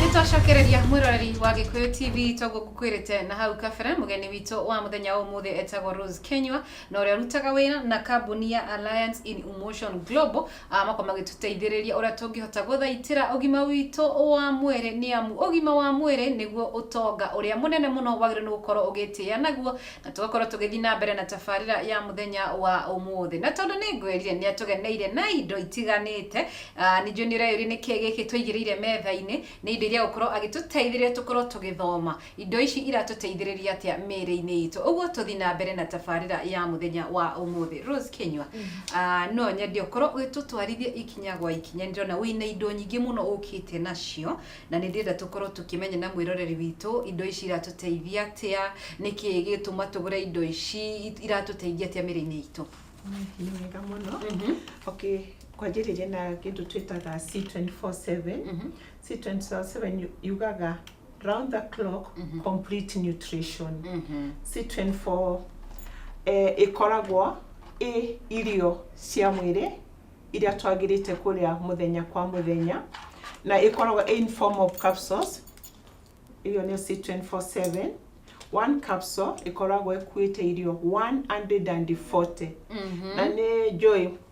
nitwacokereria mwiroreri wa gikuyu tv twagukukwirite na hau kabere mugeni witũ wa muthenya wa umuthi etagwo rose kenywa na ũrĩa arutaga wĩra na kambuni ya alliance in emotion global A moko magĩtũteithĩrĩria ũrĩa tũngĩhota gũthaitĩra ũgima witũ wa mwĩrĩ nĩ amu ũgima wa mwĩrĩ nĩguo ũtonga ũrĩa mũnene mũno wagĩrĩirwo nĩ gũkorwo ũgĩtĩa naguo na tũgakorwo tũgĩthiĩ na mbere na tabarĩra ya mũthenya wa ũmũthĩ na tondũ nĩ ngwĩrire nĩ atũgeneire na indo itiganĩte ah, ningĩ nĩ ũreyũria nĩkĩ gĩkĩ tũigĩrĩire metha-inĩ nĩ indo iria gũkorwo agĩtũteithĩrĩria tũkorwo tũgĩthoma Indo ici iratũteithĩrĩria atĩa mĩĩrĩ-inĩ itũ? Ũguo tũthi na mbere na tabarĩra ya mũthenya wa ũmũthĩ. Rose Kinyua, ah, no nyende ũkorwo ũgĩtũtwarithia ikinya gwa ikinya. Nĩ ndĩrona wĩna indo nyingĩ mũno ũkĩte nacio, na nĩ ndĩrenda tũkorwo tũkĩmenya na mwĩroreri witũ indo ici iratũteithia atĩa, nĩ kĩĩ gĩgĩtũma tũgũre indo ici, it- iratũteithia atĩa mĩĩrĩ-inĩ itũ. Nĩ wega mũno. Mhm. Okay, kwanjĩrĩria na kĩndũ twĩtaga C24/7. Mhm. C24/7 yugaga round the clock mm -hmm. complete nutrition mm -hmm. C24 eh, ĩkoragwo ĩ irio cia mwĩrĩ iria twagĩrĩte kũrĩa mũthenya kwa mũthenya na ĩkoragwo in form of capsules irio nĩ C247 one capsule ĩkoragwo ĩkuĩte irio 140 mm -hmm. na nĩ njũĩ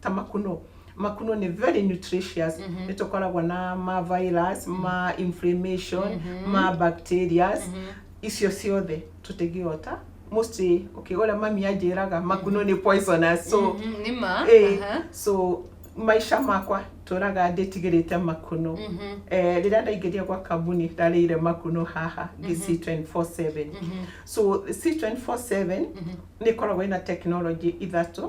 ta makunũ makunũ nĩ very nutritious mm -hmm. nĩ tũkoragwo na ma virus mm -hmm. ma inflammation mm -hmm. ma bacterias mm -hmm. icio ciothe tũtingĩhota mostly okay ũrĩa mami anjĩraga makunũ nĩ poisonous so mm -hmm. nĩ ma eh, uh -huh. so maisha makwa tũraga ndĩtigĩrĩte makunũ mm -hmm. eh, rĩrĩa ndaingĩria gwa kambuni ndarĩire makunũ haha ngĩ mm -hmm. C247 mm -hmm. so C247 mm -hmm. nĩ ĩkoragwo ĩna technology ithatũ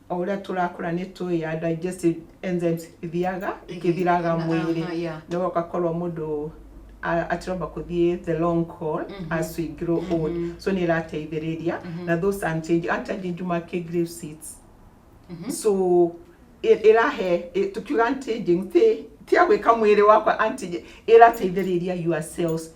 o ũrĩa tũrakũra nĩ tũĩ ya digestive enzymes ithiaga ikĩthiraga Aha, mwĩrĩ aha, yeah. no ũgakorwo mũndũ a- atiromba kũthiĩ the long call as we grow old so nĩ ĩrateithĩrĩria na those unchanging unchanging juma kĩ grave seeds so ĩ- ĩrahe ĩ- tukiuga unchanging ti ti ya gwĩka mwĩrĩ wakwa unchanging ĩrateithĩrĩria your cells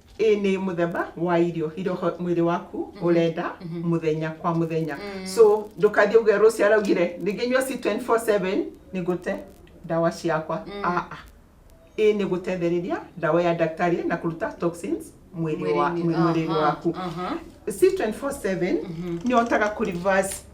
ĩ nĩ mũthemba wa irio irio ho- mwĩrĩ waku ũrenda mũthenya kwa mũthenya so ndũkathiĩ uge rũciũ araugire ningĩ nyua ci 24/7 nĩ gũte ndawa ciakwa aa ĩ nĩ gũtethereria ndawa ya daktari na kũruta toxins mwĩrĩ wa- Mwĩrĩ-inĩ. mwĩrĩ Aha, waku aha. C24/7 nĩ ũhotaga kũ reverse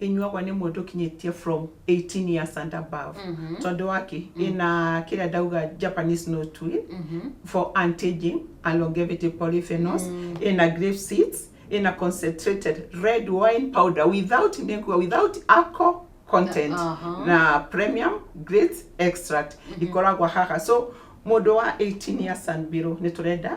inyuagwa nĩ mũndũ ũkinyĩtie from 18 years and above tondũ waki ina kĩrĩa ndauga Japanese no tui for anti-aging and longevity polyphenols ina grape seeds ina concentrated red wine powder without nĩkuga without alcohol content Aha. na premium great extract ikoragwo haha so mũndũ wa 18 years and below nĩ tũrenda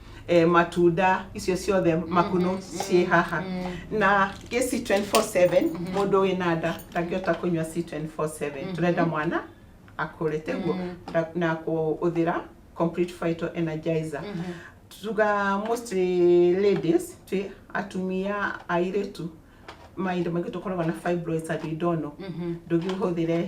eh, matunda icio ciothe makunũ ciĩ haha na gĩ C24/7 mũndũ wĩ na nda ndangĩhota kũnyua C24/7 tũrenda mwana akũre teguo na- na kũhũthĩra complete vital energizer tuga mostly ladies twĩ atumia airĩtu mahinda maingĩ tũkoragwo na fibroids and idono ndũngĩhũthĩre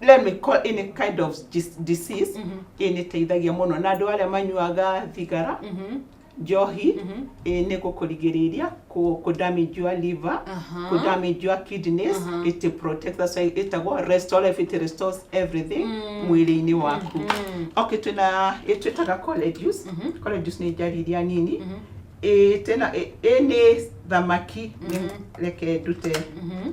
let me call any kind of dis- disease Mhm. ĩ nĩ teithagia mũno na andũ arĩa manyuaga thigara Mhm. njohi Mhm. ĩ nĩ gũkũrigĩrĩria kũ kũ damage your liver Aha. kũ damage your kidneys Aha. it protects that's why ĩtagwo restore if it restores everything Mm. mwĩrĩ-inĩ waku Mhm. okay twĩna ĩ twĩtaga college juice Mhm. college juice nĩ njari iria nini Mhm. ĩ tena ĩ ĩ nĩ thamaki nĩ Mhm. reke ndute Mhm.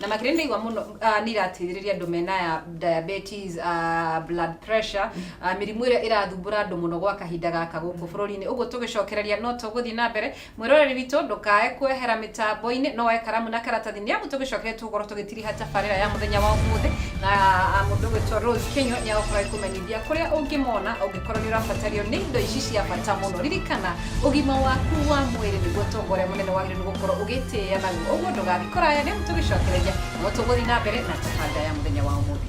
na makĩria nĩ mũno uh, nĩ irateithĩrĩria andũ mena ya diabetes uh, blood pressure uh, mĩrimũ ĩrĩa ĩrathumbũra andũ mũno gwa kahinda gaka gũkũ bũrũri-inĩ ũguo tũgĩcokereria no tũgũthiĩ na mbere mwĩroreri witũ ndũkae kwehera mĩtambo-inĩ no wae karamu na karatathi nĩ amu tũgĩcokereria tũgũkorwo tũgĩtiriha tabarĩra ya mũthenya wa ũmũthĩ na uh, mũndũ ũgwĩtwo Rose Kinyo nĩ agũkorwo agĩkũmenyithia kũrĩa ũngĩmona ũngĩ Korwo nĩ ũrabatario nĩ indo ici cia bata mũno, ririkana ũgima waku wa mwĩrĩ nĩguo ũtonga ũrĩa mũnene wagĩrĩirwo nĩ gũkorwo ũgĩtĩa naguo. Ũguo ndũgathiĩ kũraya nĩ amu tũgĩcokereria no tũgũthiĩ na mbere na tabanda ya mũthenya wa ũmũthĩ.